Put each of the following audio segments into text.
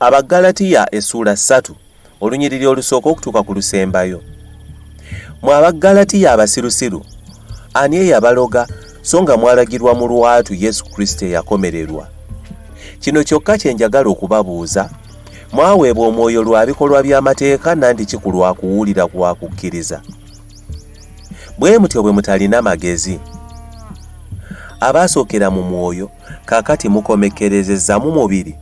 Abaggalatiya essuula ssatu olunyiriri olusooka okutuuka ku lusembayo. Mwe Abaggalatiya abasirusiru, ani eyabaloga so nga mwalagirwa mu lwatu Yesu Kristo eyakomererwa? Kino kyokka kye njagala okubabuuza, mwaweebwa omwoyo lwa bikolwa by'amateeka nandiki ku lwa kuwulira kwa kukkiriza? bwe mutyo bwe mutalina magezi abaasookera mu mwoyo kaakati mukomekkerezezza mu mubiri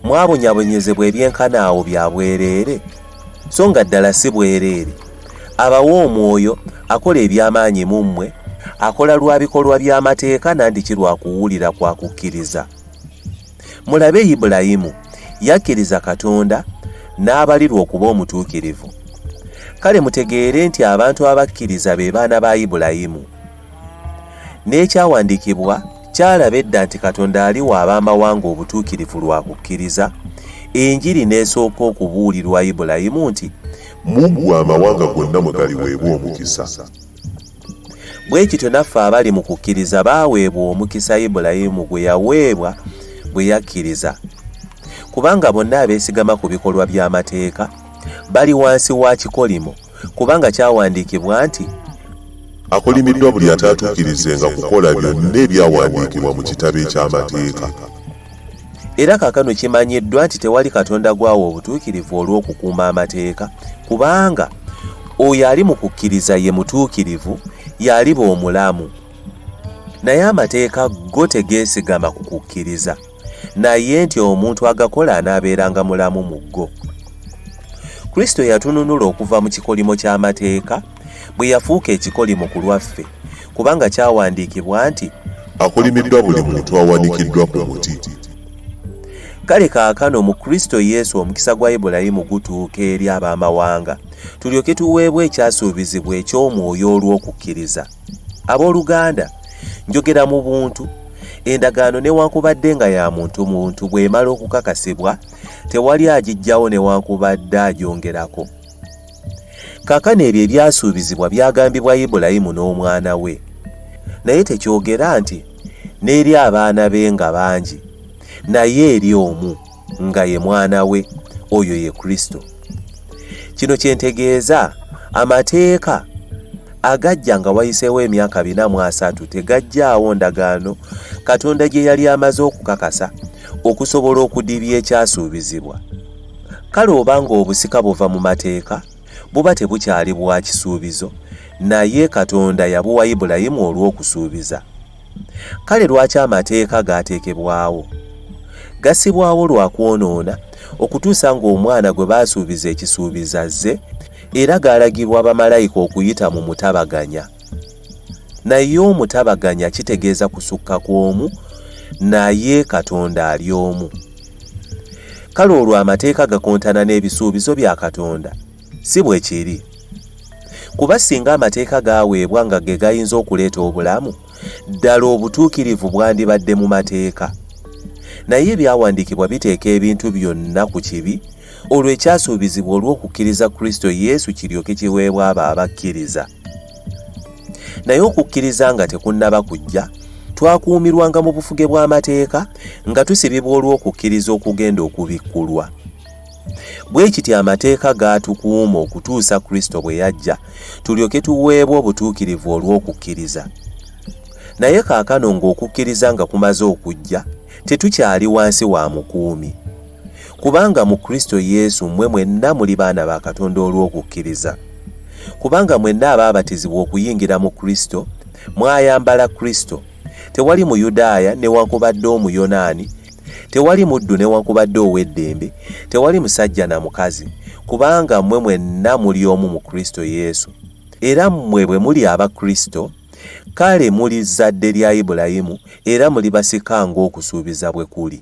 mwabonyabonyezebwa ebyenkana awo bya bwereere so nga ddala si bwereere abawa omwoyo akola eby'amaanyi mu mmwe akola lwa bikolwa by'amateeka nandiki lwa kuwulira kwa kukkiriza Mulabe Ibulayimu yakkiriza Katonda n'abalirwa okuba omutuukirivu. Kale mutegeere nti abantu abakkiriza be baana ba Ibulayimu. N'ekyawandiikibwa kyalaba edda nti Katonda aliwa ab'amawanga obutuukirivu lwa kukkiriza, enjiri n'esooka okubuulirwa Ibulayimu nti, Mu ggwe amawanga gonna mwe galiweebwa omukisa. Bwe kityo naffe abali mu kukkiriza baaweebwa omukisa Ibulayimu gwe yaweebwa bwe yakkiriza, kubanga bonna abeesigama ku bikolwa by'amateeka bali wansi wa kikolimo, kubanga kyawandiikibwa nti, Akolimiddwa buli ataatuukirizenga kukola byonna ebyawandiikibwa mu kitabo eky'amateeka. Era kakano kimanyiddwa nti tewali Katonda gwawa obutuukirivu olw'okukuuma amateeka, kubanga oyo ali mu kukkiriza ye mutuukirivu, y'aliba omulamu. Naye amateeka go tegeesigama ku kukkiriza, naye nti omuntu agakola anaabeeranga mulamu mu go. Kristo yatununula okuva mu kikolimo ky'amateeka, bwe yafuuka ekikolimo ku lwaffe kubanga kyawandiikibwa nti akolimiddwa buli muntu awanikiddwa ku muti kale kaakano mu kristo yesu omukisa gwa ibulayimu gutuuka eri ab'amawanga tulyoke tuweebwa ekyasuubizibwa eky'omwoyo olw'okukkiriza abooluganda njogera mu buntu endagaano newankubadde nga ya muntu muntu bw'emala okukakasibwa tewali agijjawo newankubadde agyongerako Kaakano ebyo ebyasuubizibwa byagambibwa Ibulayimu n'omwana we, naye tekyogera nti n'eri abaana be nga bangi, naye eri omu nga ye mwana we, oyo ye Kristo. Kino kye ntegeeza, amateeka agajja nga wayiseewo emyaka bina mu asatu tegajjaawo ndagaano Katonda gye yali amaze okukakasa okusobola okudibya ekyasuubizibwa. Kale oba ng'obusika buva mu mateeka, buba tebukyali bwa kisuubizo, naye Katonda yabuwa Ibulayimu olw'okusuubiza. Kale lwaki amateeka gaateekebwawo? Gassibwawo lwa kwonoona okutuusa ng'omwana gwe baasuubiza ekisuubizo azze, era gaalagibwa bamalayika okuyita mu mutabaganya. Naye omutabaganya kitegeeza kusukka kw'omu, naye Katonda ali omu. Kale olwo amateeka gakontana n'ebisuubizo bya Katonda? Si bwe kiri. Kuba singa amateeka gaaweebwa nga ge gayinza okuleeta obulamu, ddala obutuukirivu bwandibadde mu mateeka. Naye ebyawandiikibwa biteeka ebintu byonna ku kibi, olwo ekyasuubizibwa olw'okukkiriza Kristo Yesu kiryoke kiweebwa abo abakkiriza. naye okukkiriza nga tekunnaba kujja twakuumirwanga mu bufuge bw'amateeka nga tusibibwa olw'okukkiriza okugenda okubikkulwa bwe kityo amateeka gaatukuuma okutuusa kristo bwe yajja tulyoke tuweebwa obutuukirivu olw'okukkiriza naye kaakano ng'okukkiriza nga kumaze okujja tetukyali wansi wa mukuumi Kubanga mu Kristo Yesu mmwe mwenna muli baana ba Katonda olw'okukkiriza. Kubanga mwenna abaabatizibwa okuyingira mu Kristo, mwayambala Kristo. Tewali Muyudaaya newankubadde Omuyonaani, tewali muddu newankubadde ow'eddembe, tewali musajja na mukazi, kubanga mmwe mwenna muli omu mu Kristo Yesu. Era mmwe bwe muli aba Kristo, kale muli zzadde lya Ibulayimu era muli basika ng'okusuubiza bwe kuli.